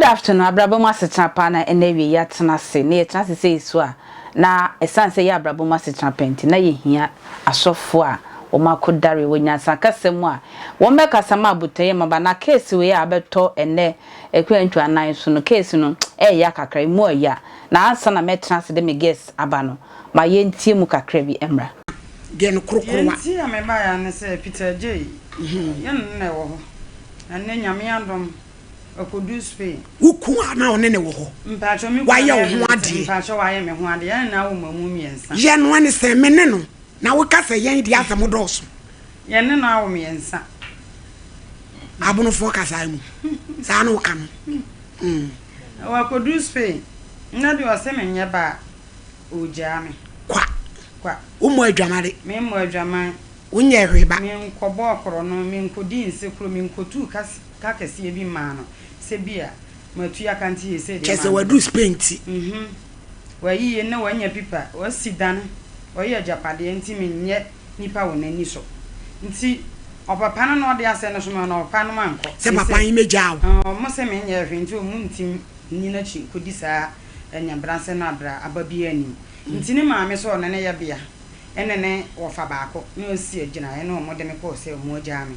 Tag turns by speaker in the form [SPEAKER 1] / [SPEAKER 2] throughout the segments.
[SPEAKER 1] Good afternoon, abrabɔ mu asetena paa na ɛna awie yɛatena ase na yɛtena ase sɛ yɛsu a na ɛsiane sɛ yɛ abrabɔ mu asetena pɛ nti na yɛhia asɔfoɔ a wɔn akodare wɔ nyansa kasa mu a wɔn bɛkasa ma abotɔyɛ mmaba na case wei a abɛtɔ ɛnɛ Akwantu anan so no case no ɛɛya kakra emu ɛɛya na ansa na mɛtena ase de me guest aba no ma yɛntie mu kakra bi mmra. Deɛ no korokoro
[SPEAKER 2] wa. Deɛ nti a me baeɛ ara ne
[SPEAKER 3] sɛ Peter Adjei yɛ ne na ɛwɔ hɔ na nnɛ Nyame adom ɔkɔduu Spain. Wo kunu a na ɔne
[SPEAKER 2] ne wɔ hɔ wayɛ wo
[SPEAKER 3] ho adeɛ.
[SPEAKER 2] Mpakyɛw wayɛ me ho adeɛ
[SPEAKER 3] yɛn nyinaa wɔ mmamu mmiɛnsa. Yɛn no ɛne sɛ me
[SPEAKER 2] ne no na wo ka sɛ yɛn deɛ asɛm dɔɔso. Yɛne no
[SPEAKER 3] awo mmiɛnsa.
[SPEAKER 2] Abonofoɔ kasaa mu, saa na woka no. Na
[SPEAKER 3] wakɔduru Spain, na deɛ ɔse menyɛ ba a, ɔregyaa me. Kwa. Kwa. Wommɔ adwamade.
[SPEAKER 2] Memmɔ adwaman.
[SPEAKER 3] Wonyɛɛ hwee ba.
[SPEAKER 2] Menkɔbɔɔ korɔno,
[SPEAKER 3] menkɔdii nsekuro, menkɔtuu ka kɛseɛ bi mmaa no sɛ bi a matua ka nti seesei deɛ maa me ba. Kyerɛ sɛ waduru Spain nti. Wayiye na wanya pipa, wasi dan, ɔyɛ agyapadeɛ nti menyɛ. nnipa wɔ n'ani so. Nti ɔpɛ pa no na ɔde asɛ no soma no, ɔpɛ no ankɔ. Sɛ papa yi mɛgyaa
[SPEAKER 2] wo. Ɔmo se menyɛɛ
[SPEAKER 3] hwee nti ɔmo ntim nni n'akyi nkɔdi saa anyabrasɛ no abra aba biaa nnim. Nti ne maame sɛ ɔne ne yɛbea ɛne ne wɔfa baako na ɔsi agyinaeɛ na ɔmo de me kɔɔ sɛ ɔmo agyaa me.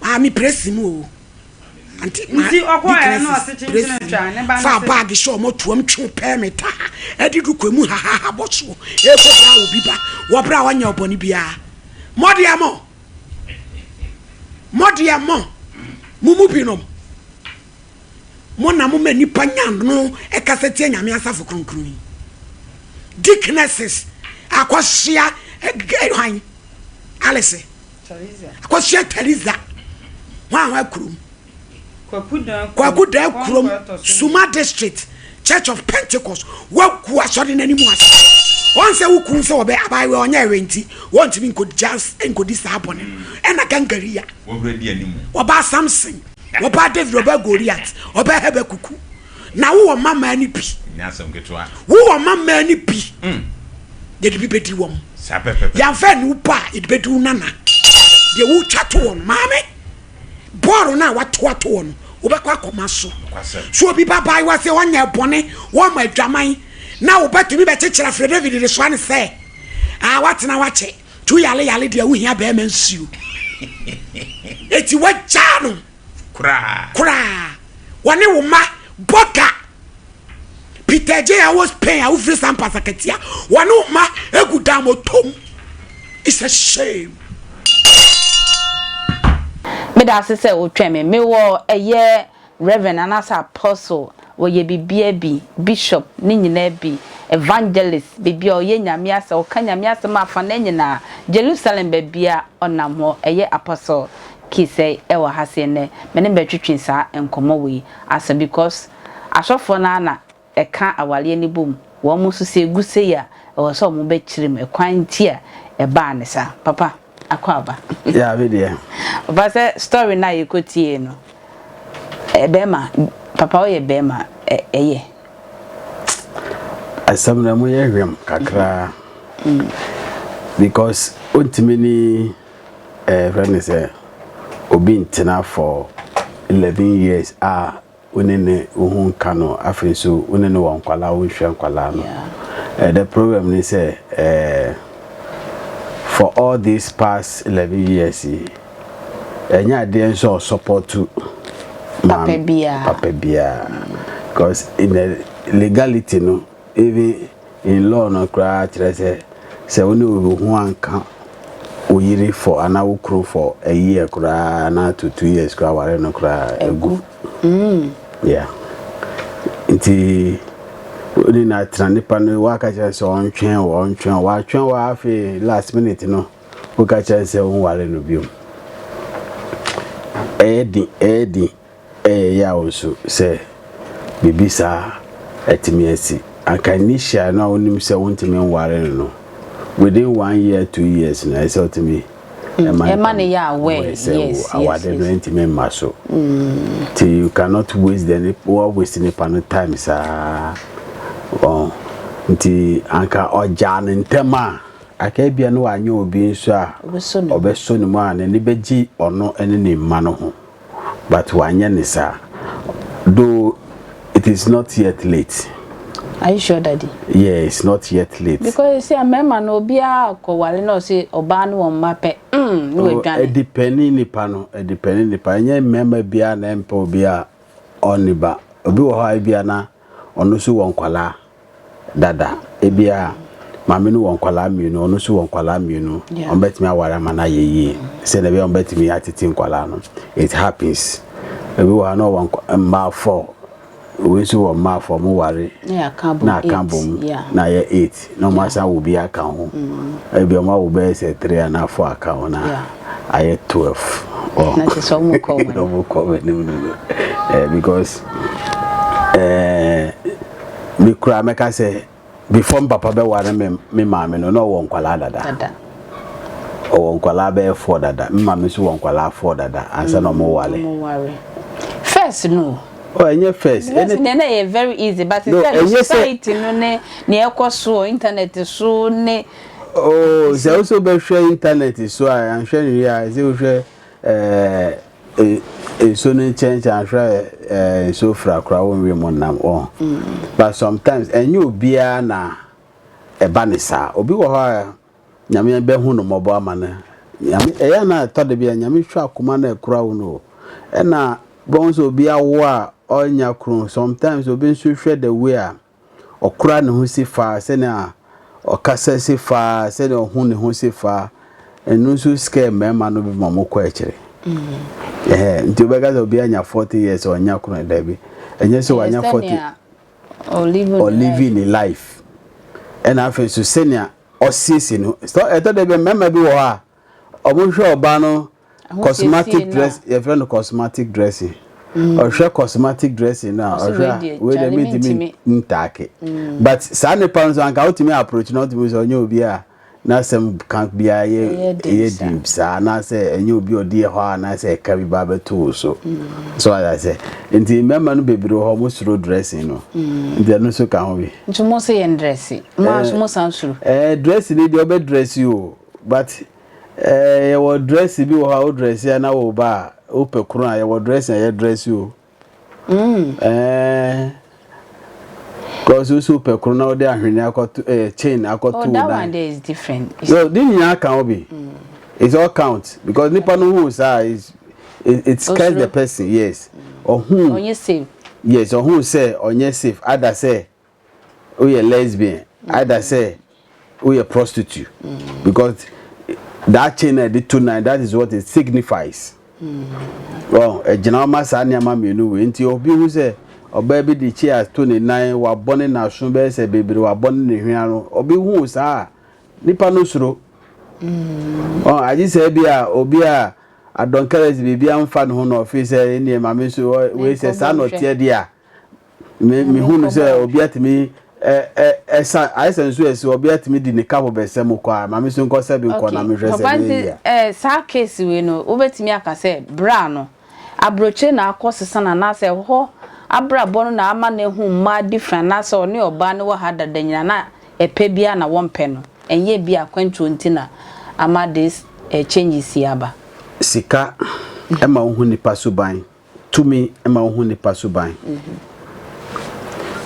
[SPEAKER 2] Maame presi mu o. Ante ma
[SPEAKER 3] Nti ɔkɔ ɛ na ɔse kyenkyen ntwa ne ba no se. Fa bag hyɛ ɔmo tuam
[SPEAKER 2] twe pɛɛ me taa ɛde du kɔ mu hahaha bɔ soɔ ɛkɔ bra wɔ bi ba wɔ bra ɔnyɛ ɔbɔne biara mɔ deɛ mɔ mɔ deɛ mɔ mo mu bi nom mo na mo ma nipa nya no ɛkasa tia nyame asafo kronkron yi deaconesses akɔhyia ɛgɛ hwan alese. akɔhyia theresa hwanhwa kurom kwaku daa kurom suma district church of pentecost wagu asɔre no anim ase wɔn sɛ wo kun sɛ wɔbɛ abaayewa ɔnyɛ ɛwɛ nti wɔntumi nkɔdi saa bɔne ɛna mm. gangaria
[SPEAKER 4] wɔbaa samson
[SPEAKER 2] wɔbaa david wɔbaa goliat wɔbaa habakuku na wowɔ mma mmaa no bi. Ɛnyɛ asɛm ketewa.
[SPEAKER 4] Wowɔ mma mmaa no
[SPEAKER 2] bi. Mm. Yɛde bi bɛdi wɔn. Saa pɛpɛpɛ. Yɛamfa
[SPEAKER 4] ne wo ba a
[SPEAKER 2] yɛde bɛdi wo nana. Deɛ wotwa to wɔn maame. Bɔɔlo no a wato ato wɔn wobɛkɔ akɔma so. So obi ba baa wa sɛ ɔnyɛ bɔne wɔma adwaman na wobɛtumi bɛkyekyerɛ afrɛ David de soa ne sɛ a watena wakyɛ tu yale yale deɛ wohia bɛrima nsuo. Eti wagyaa no. koraa. Koraa. Wɔne wo mma bɔ ka. Peter J. a wɔ Spain a wofiri saa mpasa katia. Wɔne wo mma egu daamɔtom. It's a shame.
[SPEAKER 1] Meda ase sɛ wotwɛn me. Mewɔ ɛyɛ Reverend anaasɛ Apostle, wɔyɛ biribiara bi, Bishop, ne nyinaa bi, Evangelist, biribiara, ɔyɛ Nyame asɛm, ɔka Nyame asɛm afanaa nyinaa, Jerusalem baabiara ɔnam hɔ, ɛyɛ Apostle ki sɛ ɛwɔ ha se ɛnɛ me ne bɛtwetwe saa nkɔmɔ wei asa because asɔfoɔ no ara na ɛka awareɛ no bom wɔn mo nso sɛ ɛgu sei a ɛwɔ sɛ wɔn bɛ kyerɛ mu ɛkwan nti a ɛbaa ne saa papa akɔ aba Yeah me deɛ.
[SPEAKER 5] Papa sɛ
[SPEAKER 1] story no a yɛkɔ tiee no bɛɛma papa woyɛ bɛɛma ɛyɛ.
[SPEAKER 5] Asɛm no ɛmu yɛ hwɛm kakra because wontumi ne. Yɛfrɛ no sɛ obi ntena for eleven years a wo ne ne wo ho nka no afei nso wo ne no wɔ nkwadaa wo nhwɛ nkwadaa no yeah. the problem ne sɛ eh, for all these past eleven years yi ɛnyɛ adeɛ nso a ɔsɔpɔto papa
[SPEAKER 1] biara papa biara
[SPEAKER 5] because in the legality no Even in law no koraa kyerɛ sɛ sɛ wo ne obi ho anka wo yere for anaa wo kunu for a year koraa anaa to two years koraa aware no koraa egu. Mm. Yeah. Nti ne na tena nipa no waka kyerɛ sɛ ɔntwɛn wɔ ɔntwɛn wɔ atwɛn wɔ afe last minute no woka kyerɛ sɛ wo ware no biom. Ɛyɛ din ɛyɛ din. Ɛyɛ yaw nso sɛ biribi saa atumi asi. Anka Nisha no a wonim sɛ wontumi nware no no, within one year, two years no, ɛyɛ sɛ wotumi ma no
[SPEAKER 1] yɛ aware sɛ wo awade no ntumi
[SPEAKER 5] mma so. Nti you cannot waste the nip, woa waste nipa no time saa. Wɔn. Nti anka ɔgyaa no ntɛm a, anka ebia na wanyɛ obi nso a ɔbɛsɔ ne mu a n'ani bɛgye ɔno ne ne mma no ho. but wanyɛ ne saa though it is not yet late. Are you sure
[SPEAKER 1] daddy? Yeah it's not
[SPEAKER 5] yet late. Because you see mmarima
[SPEAKER 1] no obiara kɔ ware na ɔse ɔbaa ne wɔn mma pɛ mm ne oh, wadwane. Ɛdi pɛni
[SPEAKER 5] nipa no ɛdi pɛni nipa ɛnyɛ mmarima biara na ɛmpɛ obiara ɔnne ba obi wɔ hɔ a ebia na ɔno nso wɔ nkwadaa dada. Ebia maame no wɔ nkwadaa mmienu, ɔno nso wɔ nkwadaa mmienu. Yeah. Wɔbɛtumi aware ama no ayɛ yie sɛdeɛ ɛbɛyɛ wɔbɛtumi atete nkwadaa no. It happens. Ebi wɔ ha na ɔwɔ nkwa- mmaa four, wei nso wɔ mmaa four, wɔware Na yɛaka abom na aka
[SPEAKER 1] eight. bom
[SPEAKER 5] Yeah. na ayɛ eight. Na ɔmo asan awo bi aka ho. Ebi ɔmo awo bɛyɛ sɛ three anaa four aka ho na ayɛ twelve. Ɔho. Na kyerɛ sɛ
[SPEAKER 1] ɔmo kɔ wɔn. Ɔmo kɔ wɔn anim no
[SPEAKER 5] no. Eh, because eh, me kura mɛka sɛ before me papa bɛware me me maame no na ɔwɔ nkwalaa dada. Dada. Ɔwɔ nkwalaa bɛyɛ four dada. Me maame nso wɔ nkwalaa four dada ansa na ɔmo ware. Ɔmo ware. First
[SPEAKER 1] no. Oh ɛnyɛ first.
[SPEAKER 5] Ɛne. Nea na ɛyɛ
[SPEAKER 1] very easy but sɛ no society no ne nea ɛkɔ so wɔ internet so ne. Oh sɛ
[SPEAKER 5] wo so bɛhwɛ internet so a anhwɛ nwie a ɛsɛ wohwɛ ɛɛ nsuo no nkyɛnkyɛn ahwɛ ɛɛ nsuo fira koraa wɔnwie mu nam wɔn. But sometimes ɛnyɛ obiara na ɛba ne saa obi wɔ hɔ a. Nyame bɛ hu no mmɔbɔ ama no Nyame ɛyɛ a na ɛtɔ da bi a Nyame hwɛ akoma na ɛkura wo no o ɛna bɛhu sɛ obi awo a ɔnnya kunu sometimes obi nso hwɛ the way a ɔkura ne ho si fa sɛnea ɔkasa si fa sɛnea ɔho ne ho si fa ɛno nso scare mmarima no bi ma ɔmo kɔ akyire ɛhɛ mm. nti wobɛka sɛ obi anya 40 years ɔnnya kunu da bi ɛnyɛ sɛ wanya 40 or living in life ɛna afei nso sɛnea ɔsiesie ne ho. Sɛ ɛtɔ da bi a mmarima bi wɔ hɔ a, wɔhwɛ ɔbaa no cosmetic dress yɛfrɛ no cosmetic dressing. Ɔhwɛ cosmetic dressing no a ɔhwɛ a wei deɛ mentumi ntaake. But saa nipa no nso anka wotumi approach no wotumi sɛ ɔnyɛ obi a n'asɛm ka biara yɛ ɛyɛ deep saa anaasɛ ɛnyɛ obi a ɔdi hɔ a anaasɛ ɛka bi ba bɛto wo so. So ayɛ sɛ nti mmarima no bebree wɔ hɔ wɔsuro dressing no. Nti ɛno nso ka ho bi. Nti wɔn nso yɛn dresse.
[SPEAKER 1] Mo ara nso mo san soro. Ɛɛ dress ni deɛ ɔbɛ
[SPEAKER 5] dress o but ɛɛ yɛwɔ dress bi wɔ hɔ a wo dress a na wo ba a wo pɛ koro a yɛwɔ dress a yɛ dress o. Mm. Ɛɛ cause wo so pɛ koro na ɔde ahwene akɔto ɛɛ chain akɔto oh, wo nan. Oh that one there is
[SPEAKER 1] different. Yo de nyinaa kan
[SPEAKER 5] obi. Mm. It's all count because nipa no hu saa is it, it scares the person yes. Ɔhu. Ɔnyɛ
[SPEAKER 1] safe. Yes ɔhu sɛ
[SPEAKER 5] ɔnyɛ safe ada sɛ woyɛ lesbian either sɛ woyɛ prostitute mm. because that chain na ɛde to nan that is what it signifies wɔn ɛgyina ɔma saa nneɛma mmienu wei nti obi hu sɛ ɔbaa bi de chair to ne nan wabɔ ne n'aso bɛyɛ sɛ bebree wabɔ ne ne hwea no obi hu saa nipa no soro mm. wɔn agye sɛ bi a obi a adɔnkɛrɛs biribi anfa ne ho na ɔfi sɛ ɛnneɛ maame nso wei sɛ saa na ɔteɛ deɛ a. Me me hu no sɛ obi atumi ɛ ɛ ɛsa ayɛ sɛ nso ɛsi obi atumi di ne kapo bɛsɛ mu kɔ a maame so nkɔ sɛ bi nkɔ na me hwɛ sɛ papa nti ɛ saa case
[SPEAKER 1] wei no wobɛtumi aka sɛ bra no aburokyire na akɔ sesa na anaasɛ hɔ abrabɔ no na ama no ahu mmaa different anaasɛ ɔne ɔbaa no wɔ ha dada nyina na ɛpɛ bi a na wɔmpɛ no ɛnyɛ bi a akwantuo nti na ama this ɛ changes yi aba. Sika
[SPEAKER 5] ɛma wohu nipa suban. Tumi ma wohu nnipa suban.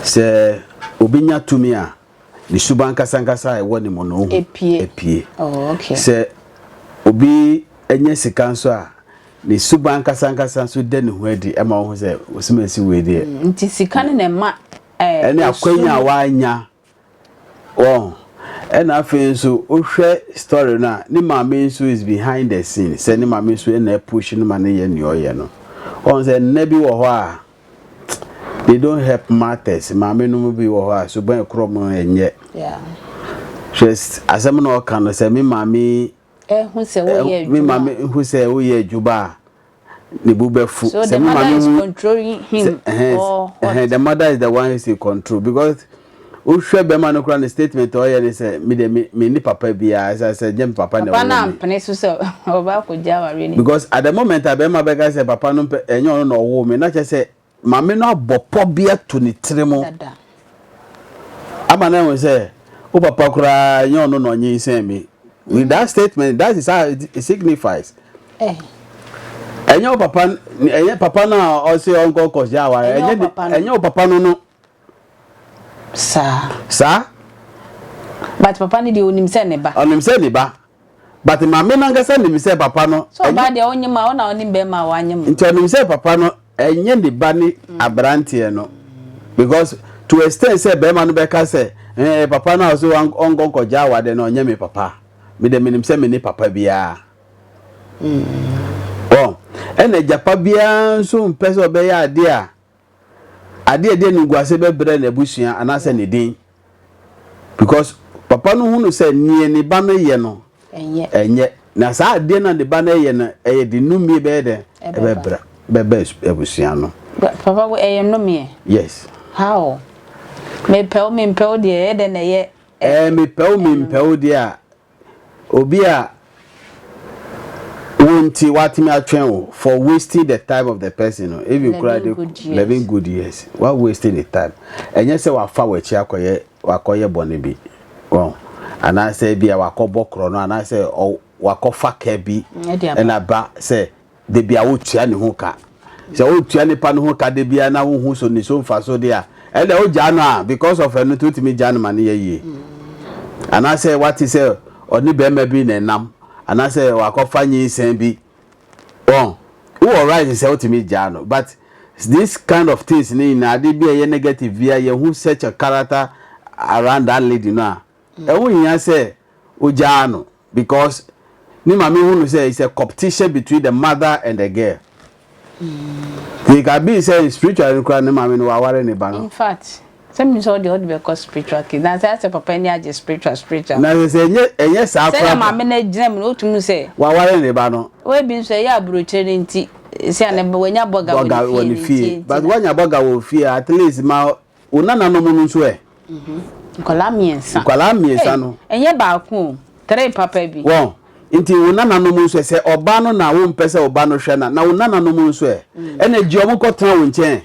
[SPEAKER 5] Sɛ obi nya tumi a, ne suban ankasankasa a ɛwɔ ne mu no, ohu. Epue. Sɛ obi nya sika nso a, ne suban ankasankasa nso da ne ho adi ma wohu sɛ, ɔsomasi wei deɛ. Nti sika no na
[SPEAKER 1] ɛma ɛso. Ɛne akwanya
[SPEAKER 5] a wanya Wahu? Ɛna afei nso wohwɛ story no a, ne maame nso is behind the scene, sɛ ne maame nso ɛna push no ma no yɛ nea ɔyɛ no. Wahu sɛ nna bi wɔ hɔ a they don't help matters, maame nom bi wɔ hɔ a suban ɛkorɔ mu ɛnyɛ. Hwɛ asɛm na ɔka no sɛ
[SPEAKER 1] me maame ɛhu sɛ
[SPEAKER 5] woyɛ adwuma a, ne bo bɛfu so the mother is controlling
[SPEAKER 1] him
[SPEAKER 5] or
[SPEAKER 1] what
[SPEAKER 5] the
[SPEAKER 1] mother is
[SPEAKER 5] the one is in control because wohwɛ bɛma no koraa ne statement ɔyɛ ne sɛ me de me ni papa biara sɛ sɛ gyem papa na ɔwɔ na mpene so sɛ
[SPEAKER 1] ɔba akɔgya awareɛ no because at the moment a
[SPEAKER 5] bɛma bɛka sɛ papa no mpɛ ɛnyɛ ɔno na ɔwɔ me na kyɛ sɛ Maame no abɔ pɔ bi ato ne tiri mu ama no ahu sɛ, Wo papa koraa, ɛnyɛ ɔno na ɔnyinsɛn me. With that statement, that is how it signifies. Ɛnyɛ wo papa, ɛnyɛ papa no a ɔse ɔnkɔ kɔhyɛ aware, ɛnyɛ wo papa no no. Saa. Saa.
[SPEAKER 1] But papa no deɛ ɔnim sɛ ne ba. Ɔnim sɛ ne ba.
[SPEAKER 5] but maame no ankasa nim sɛ papa no. sɛ ɔbaa deɛ ɔnyem a
[SPEAKER 1] ɔna ɔnim bɛrima a wanyem. nti ɔnim sɛ papa no
[SPEAKER 5] ɛnyɛ ne ba ne mm. aberanteɛ no because to extend sɛ bɛrima no bɛka sɛ ɛɛ papa no a ɔsɛ ɔnkɔnkɔgya awadeɛ no ɔnyɛ me papa me dɛ menim sɛ me ne papa biara. Mm. Oh, ɛna agyapa biara nso mpɛ sɛ ɔbɛyɛ adeɛ a ade a ɛde animguase bɛbrɛ n'abusua anaasɛ ne din because papa no hunu sɛ neɛ ne ba no yɛ no ɛnyɛ na saa adeɛ na ne ba no yɛ no ɛyɛ de nnumie bɛyɛ dɛ ɛbɛbrɛ bɛbɛ abusua no. Papa wo ɛyɛ
[SPEAKER 1] nnumie? Yes. How? Mepɛw mempɛw deɛ ɛyɛ dɛ na ɛyɛ. Ɛɛ mepɛw
[SPEAKER 5] mempɛw deɛ a. Obi a wo nti watumi atwɛn wo for wasting the time of the person no even kura de eleven good years wa wasting the time ɛnyɛ sɛ wafa w'akyi akɔyɛ wakɔyɛ bɔne bi wɔn anaasɛ bi a wakɔbɔ korɔ no anaasɛ wakɔfa kɛ bi ɛna ba sɛ Da biara wotua ne ho ka. Sɛ wotua nipa no ho ka da biara na wohu so ne so mfaso de a, ɛnna wogyaa no a because of ɛno nti wotumi gyaa no ma ne yɛ yie. Anaasɛ wate sɛ ɔne barima bi na ɛnam anaasɛ wakɔfa nyinsɛn bi wɔn wowɔ right sɛ wotumi gyaa no but this kind of things ne nyinaa ade bi a ɛyɛ negative bi a yɛhu such a character around that lady no a ɛho hia sɛ wogyaa no. Because ne maame hu no sɛ it's a competition between the mother and the girl. It can be sɛ spiritual no koraa ne maame no waware ne ba no. In fact,
[SPEAKER 1] sɛ menim sɛ ɔde ɔde bɛkɔ spiritual case na sɛ asɛ papa ani agye spiritual spiritual. Na sɛ ɛnyɛ
[SPEAKER 5] ɛnyɛ saa koraa. Sɛdeɛ maame no agyina mu
[SPEAKER 1] no wotumi hu sɛ. Waware ne ba no.
[SPEAKER 5] Wei bi nso ɛyɛ aburokyire
[SPEAKER 1] no nti. Sɛ ne wanya bɔga wɔ ne fie no nti.
[SPEAKER 5] But wanya bɔga wɔ fie at least ma Wo nananom no nso ɛ? Nkwadaa
[SPEAKER 1] mmiɛnsa. Nkwadaa mmiɛnsa no. Hey,
[SPEAKER 5] ɛnyɛ baako o,
[SPEAKER 1] three papa bi. Wɔn, nti wo
[SPEAKER 5] nananom nso ɛ? Sɛ ɔba no na wompɛ sɛ ɔba no hwɛ na, na wo nananom nso ɛ? Ɛna gye wɔn kɔtena wo nkyɛn.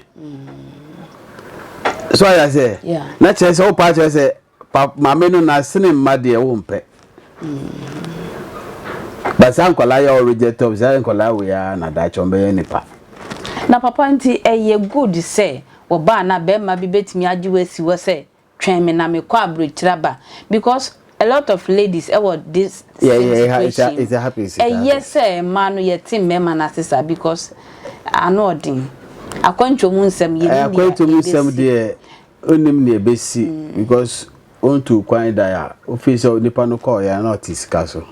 [SPEAKER 5] So ayɛ sɛ? Yeah. Na kyerɛ sɛ wopa kyerɛ sɛ Pa maame no na sene mma deɛ wo mpɛ. Ba saa nkwadaa yɛ ɔregyɛ tɔm saa nkwadaa wei ara na daakye wɔn bɛyɛ nipa. Na papa
[SPEAKER 1] nti ɛyɛ good sɛ wɔ ba na bɛɛma bi bɛtumi agye wo asi hɔ sɛ twɛn me na me kɔ abrokyire aba because a lot of ladies ɛwɔ this same
[SPEAKER 5] situation mu ɛyɛ sɛ mmaa
[SPEAKER 1] no yɛte mmarima no ase saa because ano ɔden akwantuo mu nsɛm yɛ ni deɛ yɛbɛsi.
[SPEAKER 5] Onnim nea ebesi because ontuu kwan da a ofii sɛ onipa no kɔɔ yɛ na ɔte sika so.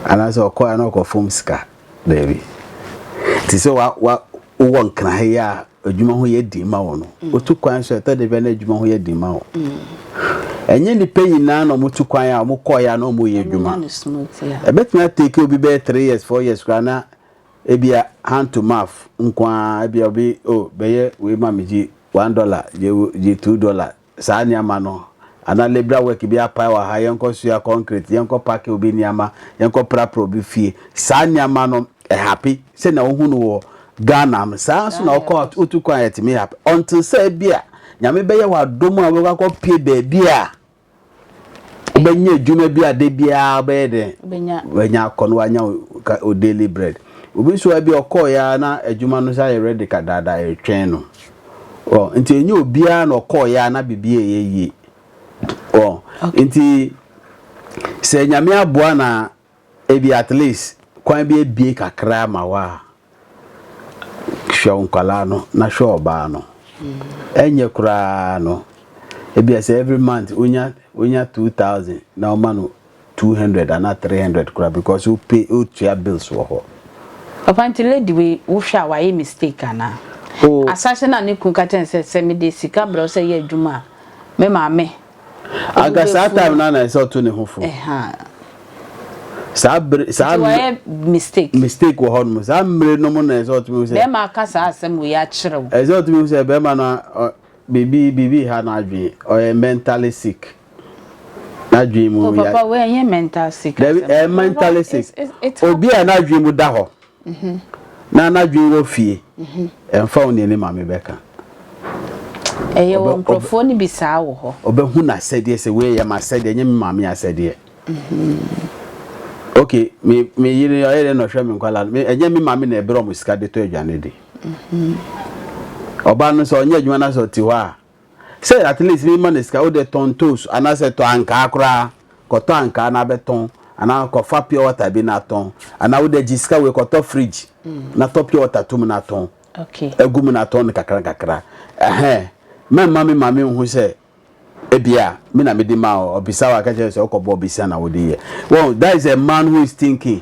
[SPEAKER 5] Anaasɛ ɔkɔɔ yɛ na ɔkɔfom sika. Daabi. Te sɛ wa wa wowɔ nkra ha yi a adwuma ho yɛ den ma wo no. Otu kwan so ɛtɔ da bi a na adwuma ho yɛ den ma wo. Ɛnyɛ nnipa nyinaa na wɔtu kwan a wɔkɔɔ yɛ a na wɔyɛ adwuma. Ɛbɛtumi atake obi bɛyɛ three years four years koraa na Ebia hand to mouth nko ara, ebia obi oh bɛyɛ wei ma me gye one dollar, gye gye two dollar, saa nneɛma no. Anaa labourer work bi apae wɔ ha, yɛnkɔ soa concrete, yɛnkɔ pake obi nneɛma, yɛnkɔ prapra obi fie. Saa nneɛma no ɛhape sɛnea wohu no wɔ Ghana no, saa ara nso na wokɔ out wotu kwan a ɛtumi hape until sɛ ebia Nyame bɛyɛ wo adom a wobɛkɔ akɔpue baabi a wobɛnya adwuma bi a da biara wobɛyɛ dɛ wanya akɔ no wanya o daily bread obi nso a bi ɔkɔɔeɛ ara na adwuma no sɛ ayɛ ready kadaada ɛretwɛn no ɔ nti ɛnyɛ obiara na ɔkɔɔeɛ ara na biribi ɛyɛ yie ɔ nti sɛ nyame aboa na Ebia at least kwan bi abue kakra ama wo a, hwɛ wo nkwadaa no na hwɛ ɔbaa no. Ɛnyɛ koraa no, ebia sɛ every month wonya wonya two thousand na ɔma no two hundred anaa three hundred koraa because wo pay wo tua bills wɔ hɔ. Papa nti
[SPEAKER 1] lady wei wohwɛ a wayɛ mistake anaa? Oh. Asaase no a ne kunu ka kyerɛ no sɛ sɛ mede sika brɛ wo sɛ yɛ adwuma a me maame Anka saa
[SPEAKER 5] time no ara na ɛsɛ ɔto ne ho fo. Saa bere saa Nti wayɛ mistake. Mistake wɔ hɔnom. Saa mmere no mu na ɛsɛ
[SPEAKER 1] ɔtumi
[SPEAKER 5] hu sɛ.
[SPEAKER 1] Bɛrima
[SPEAKER 5] aka
[SPEAKER 1] saa
[SPEAKER 5] asɛm
[SPEAKER 1] wei akyerɛ
[SPEAKER 5] wo.
[SPEAKER 1] Ɛsɛ
[SPEAKER 5] ɔtumi hu
[SPEAKER 1] sɛ
[SPEAKER 5] bɛrima no biribi biribi ha n'adwene. Ɔyɛ mentally sick. N'adwene mu. Oh papa wei ɛnyɛ mental
[SPEAKER 1] sick asɛm. Dabi ɛyɛ mentally
[SPEAKER 5] sick. Obi a n'adwene mu da hɔ. Na n'adwene wɔ fie. Ɛmfa wo nea ne maame bɛka.
[SPEAKER 1] Ɛyɛ wɔ nkurɔfoɔ no bi saa wɔ hɔ. Ɔbɛhu n'asɛdeɛ sɛ
[SPEAKER 5] wei yɛ m'asɛdeɛ ɛnyɛ me maame asɛdeɛ. Ok, me me yere ɔyɛ dɛn na ɔhwɛ me nkwadaa no? Ɛnyɛ me maame na ɛbrɛ wɔn sika de tɔ aduane de. Ɔbaa no sɛ ɔnyɛ adwuma na sɛ ɔte hɔ a. Sɛ at least me ma no sika wo deɛ tɔn ntoosu anaa sɛ tɔ ankaa koraa kɔ tɔ ankaa na bɛ tɔn anaa kɔ fa pure water bi na tɔn anaa wo deɛ gye sika wei kɔ tɔ fridge na tɔ pure water to mu na tɔn gu mu na
[SPEAKER 1] tɔn no kakra
[SPEAKER 5] kakra ɛhɛn mɛ mma me maame nhu sɛ ebia me na me di ma ɔ ɔbisa wa ka kyerɛ sɛ ɔkɔ bɔ ɔbisa na wo di yɛ well that is a man who is thinking.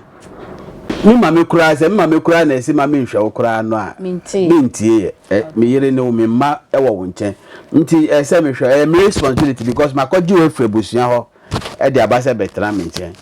[SPEAKER 5] Me maame koraa, sɛ me maame koraa na ɛse ma menhwɛ wo koraa no a, mentie yɛ. Eh, me yere ne wo, me mma wɔ wo nkyɛn. Nti ɛsɛ sɛ mehwɛ, ɛyɛ me responsibility because makɔgye wo afiri abusua hɔ de aba sɛ bɛtena me nkyɛn.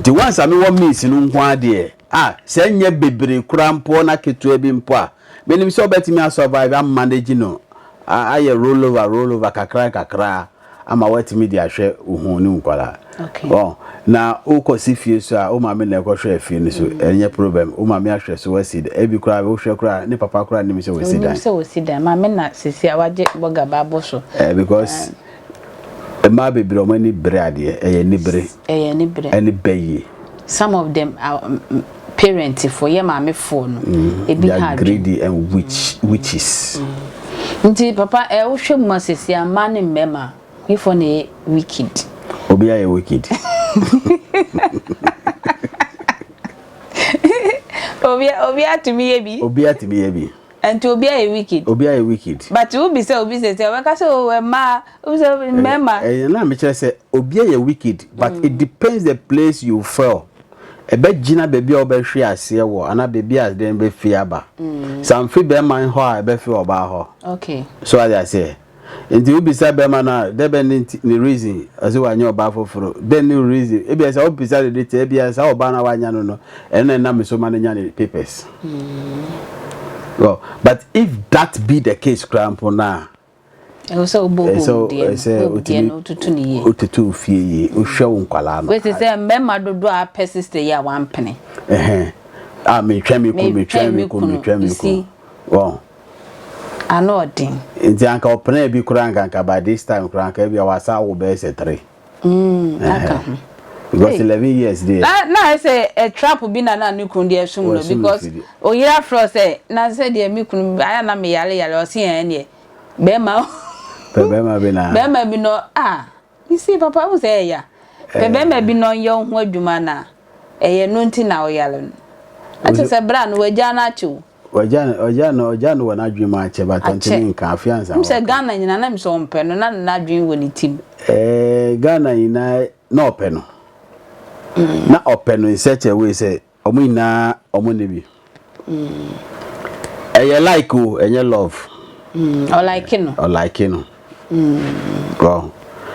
[SPEAKER 5] Nti once a mewɔ means no nko ara deɛ, ah, sɛ ɛnyɛ bebree koraa mpo na ketewa bi mpo a, Menim sɛ wobɛtumi a survive, a manage no, a ayɛ roll over, roll over kakra nkakra ama woatumi de ahwɛ wo ho ne wo nkwadaa. Okay. Wɔn,
[SPEAKER 1] na
[SPEAKER 5] wokɔ si fie so a, wo maame na ɛkɔ hwɛ afie no so, ɛnyɛ problem. Wo maame ahwɛ so, wasi dan. Ebi koraa, wohwɛ koraa, ne papa koraa nnim sɛ wasi dan. Onim sɛ wasi dan. Maame na
[SPEAKER 1] sisi a wagye bɔga ba abɔ so. Eh,
[SPEAKER 5] because, mmaa bebree wɔn ani bere adeɛ, ɛyɛ anibere. Ɛyɛ aniberɛ. Ɛnibɛ yie. Some of them
[SPEAKER 1] parent foɔ yɛ maame foɔ no ebi ha adwene. They are greedy and witch
[SPEAKER 5] witches. Nti
[SPEAKER 1] papa ɛ wohwɛ mu a sɛsi a mmaa ne mmarima wefoɔ na ɛyɛ wicked. Obi ayɛ
[SPEAKER 5] wicked.
[SPEAKER 1] Obi obi atumi yɛ bi. Obi atumi yɛ bi. Ɛnti obia yɛ wicked. Obia yɛ wicked. But wo bisa obi sɛsɛ ɔbɛka sɛ oh ɛmaa wo bisa obi mɛma. Ɛyɛ na me kyerɛ sɛ
[SPEAKER 5] obia yɛ wicked but it depends the place you fell ɛbɛ gyina bɛbi a wo bɛ hwe aseɛ wɔ ana bɛbi a dɛn bɛ fi aba some fi bɛma hɔ a ɛbɛ fi ɔbaa hɔ okay so wate
[SPEAKER 1] aseɛ.
[SPEAKER 5] Enti wobisa bɛrima no a, dɛ bɛn ne ntsi ne reason ɔse ɔannya ɔbaa fofor? Dɛn ne wo reason? Ebia sɛ wobisa no dɛ, Tsɛɛ bia saa ɔbaa no a ɔannya no no, ɛno na nna mesoma no nya ne papers. Well, but if that be the case koraa mpo no a, ɛwɔ sɛ wobɔ
[SPEAKER 1] home deɛ no, home deɛ no wotutu
[SPEAKER 5] no yie, wotutu ofie yie, wohwɛ wo nkwadaa no. Wete sɛ mmarima dodoɔ
[SPEAKER 1] a apɛ sister yi a wampene. Ɛhɛn, a
[SPEAKER 5] metwɛn me kunu, metwɛn me kunu, metwɛn me kunu. ano
[SPEAKER 1] ɔden. Nti anka
[SPEAKER 5] ɔpenaa bi koraa anka anka by this time koraa anka ebia wasa awo bɛyɛ sɛ three.
[SPEAKER 1] Mm, aka ho.
[SPEAKER 5] Because eleven years deɛ. Na na ayɛ sɛ ɛ
[SPEAKER 1] trap bi na na ne kunu deɛ ɛsom no because oyere afrɛ wo sɛ na sɛ deɛ me kunu ayɛ na me yare yare ɔse ɛn deɛ bɛrima. Pɛ bɛrima bi na. Bɛrima bi no ah. Me se papa wohu sɛ ɛya pɛ bɛrima bi na ɔnyɛ wo ho adwuma no a ɛyɛ ɛno nti na woyare no na kyerɛ sɛ bra no wagyaa no akyɛ o. Wagya no ɔgya no
[SPEAKER 5] ɔgya no wɔ n'adwene mu akyɛ but ɔntumi nka afei ansa waka. Wonim sɛ Ghana nyinaa na menim
[SPEAKER 1] sɛ ɔmpɛ no na n'adwene wɔ ne ti mu. Ɛɛ Ghana
[SPEAKER 5] nyinaa na ɔpɛ no na ɔpɛ no in such a way sɛ. Ɔmo nyinaa ɔmo nne bi. Ɛyɛ like o ɛnyɛ love. Ɔlike
[SPEAKER 1] no. Ɔlike no.
[SPEAKER 5] Wow.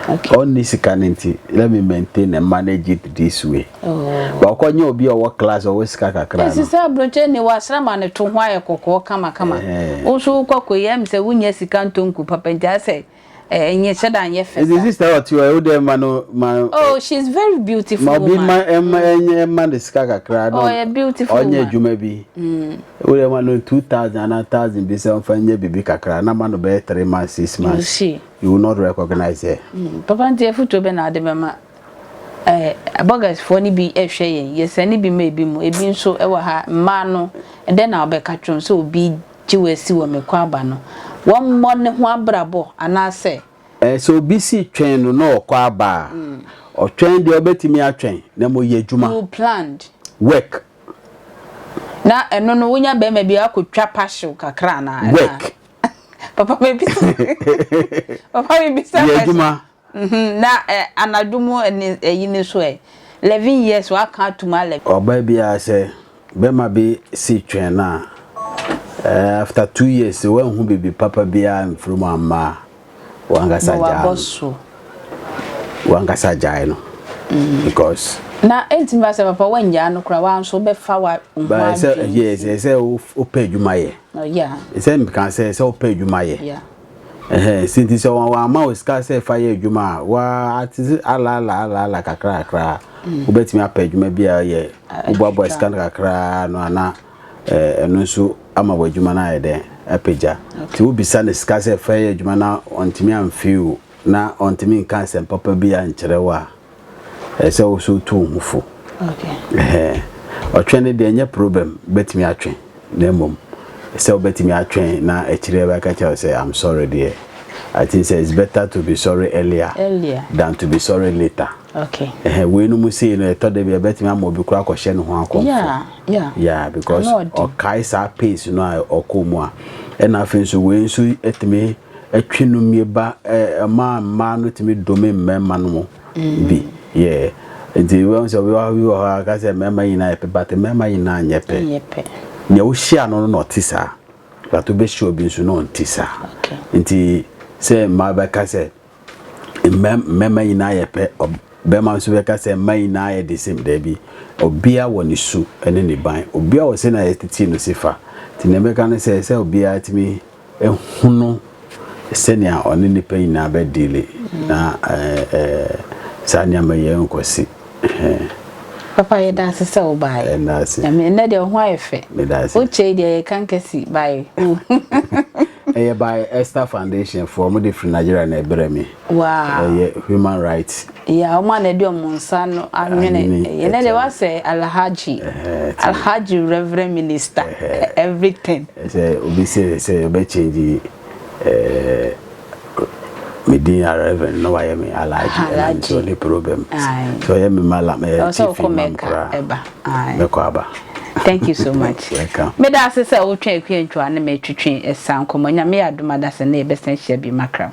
[SPEAKER 5] Okay. Ɔnni sika no nti let me maintain and manage it this way. Oh. Ba ɔkɔ nye obi a ɔwɔ class ɔwɔ sika kakra no. Sisa aburokyɛ ni wasra
[SPEAKER 1] ma ne to ho ayɛ kɔkɔɔ kama kama. Wo so wokɔ kɔ yɛ mi sɛ wonya sika ntonku papa nti asɛ Eh, enye sɛ da nyɛ fɛ sa. Ebi sister ɔte hɔ, wo
[SPEAKER 5] deɛ ma no ma. Oh, she is
[SPEAKER 1] very beautiful woman. Ma obi ma ɛma ɛnyɛ
[SPEAKER 5] ɛma ne sika kakra na. Oh, ɔyɛ beautiful woman. Ɔnyɛ adwuma
[SPEAKER 1] bi.
[SPEAKER 5] Wo deɛ ma no two thousand ana thousand bi sɛ ɔnfa nyɛ bibi kakra na ma no bɛyɛ three months six months. You see. You will not recognize her. Papa nti efutuo
[SPEAKER 1] bɛ na ade bɛ ma. Eh, burgers foɔ ni bi ɛhwɛ yɛn, yɛsɛ ni bi ma ebi mu, ebi nso ɛwɔ ha mmaa no, ɛdɛ na ɔbɛka twɛn sɛ obi. gye wo asi wɔ me kɔaba no, wɔmmɔ ne ho abrabɔ anaasɛ. Sɛ obi
[SPEAKER 5] si twɛn no na ɔkɔ aba a, ɔtwɛn deɛ ɔbɛtumi atwɛn, na mmom yɛ adwuma. You planned.
[SPEAKER 1] Work. Na ɛno no, wonya barima bi a, woakɔtwa pahyew kakra anaa? Work.
[SPEAKER 5] Papa
[SPEAKER 1] mebisa. Papa mebisa. Yɛ adwuma. Mh
[SPEAKER 5] na
[SPEAKER 1] eh anadwo mu ne ayi no nso eh 11 years waka atom a 11. Ɔbaa biara sɛ
[SPEAKER 5] bɛma bi se twɛn no a eh after 2 years se wanhu bibi papa biara amfiri mu amma a wankasa gyaa no. Wankasa gyae no because. Na ɛntumi
[SPEAKER 1] ba sɛ papa wangyaa no koraa wa nso bɛfa wa ho adwene si. Ba sɛ
[SPEAKER 5] yes ɛsɛ wopɛ adwuma
[SPEAKER 1] yɛ.
[SPEAKER 5] Oh
[SPEAKER 1] yeah.
[SPEAKER 5] Ɛsɛ meka sɛ ɛsɛ wopɛ
[SPEAKER 1] adwuma
[SPEAKER 5] yɛ. Yeah. Ɛhɛ, sinti sɛ wɔn wɔama wo sika sɛ fa yɛ adwuma a, wa ate sɛ ala ala ala ala kakra kakra a, mm. wobɛtumi apɛ adwuma bi a yɛ woboaboa sika no kakra no ana ɛno nso ama wɔ adwuma no ayɛ dɛ apagya nti wobisa no sika sɛ fa yɛ adwuma na ɔntumi amfew na ɔntumi nka nsɛm papa bi ankyerɛ wo a Ɛsɛ sɛ wo so tu wo ho fo. Ɔtwɛn no deɛ ɛnyɛ problem, bɛtumi atwɛn na mmom sɛ wobɛtumi atwɛn na akyire bɛka kyerɛ wo sɛ I'm sorry deɛ I think sɛ it's better to be sorry earlier than to be sorry later. Wei
[SPEAKER 1] nom sei
[SPEAKER 5] no ɛtɔ da bi a ɛbɛtumi ama obi koraa akɔhyɛ ne ho akɔmfo because ɔkae saa pace no a ɔkɔɔ mu a ɛna afei nso wei nso tumi Ɛtwe no mie ba ɛma mmaa no tumi dome mmarima no mu bi yeah nti wɛn sɛ obi wɔ hɔ a ka sɛ mmarima nyinaa yɛ pɛ but mmarima nyinaa nyɛ pɛ nea wohyia no no na ɔte saa but wobɛhyia obi nso na ɔnte saa nti sɛ mmaa bɛka sɛ mmarima nyinaa yɛ pɛ bɛrima nso bɛka sɛ mmaa nyinaa yɛ de same daabi obia wɔ ne su ne ne ban obia wɔ sɛ na yɛtete no si fa nti nea bɛka no sɛ sɛ obia tumi hunu sɛnea ɔne nnipa nyinaa bɛ deale na saa nneɛma yi nkɔsi.
[SPEAKER 1] Papa yɛ daase sɛ wo baa yɛ. Ɛnɛ deɛ ɔho ayɛ fɛ. Wokyɛ yi deɛ yɛ kan kɛsi baa yɛ.
[SPEAKER 5] Ɛyɛ baa Esther Foundation foɔ mo de firi Nigeria na ɛbrɛ mi. Wow. Ɛyɛ
[SPEAKER 1] human rights.
[SPEAKER 5] Yeah, wɔn a na ɛde
[SPEAKER 1] wɔn nsa no anwene ɛyɛ. Na de wasɛ alhaji. Alhaji reverend minister. Everything. Sɛ obi
[SPEAKER 5] sɛ sɛ ɔbɛ change ɛɛ me din a reverend na wayɛ me alhaji. Alhaji. Ɛna ne problem. So ɔyɛ me malam ɛɛ chief imam kora. Ɛba. Mɛkɔ aba. Thank you so much. Welcome. Me da ase sɛ wotwe akua ntwa ne me twetwe ɛsa nkɔmɔ. Nyame yɛ adom adasa ne yɛbɛsan hyia bi makram.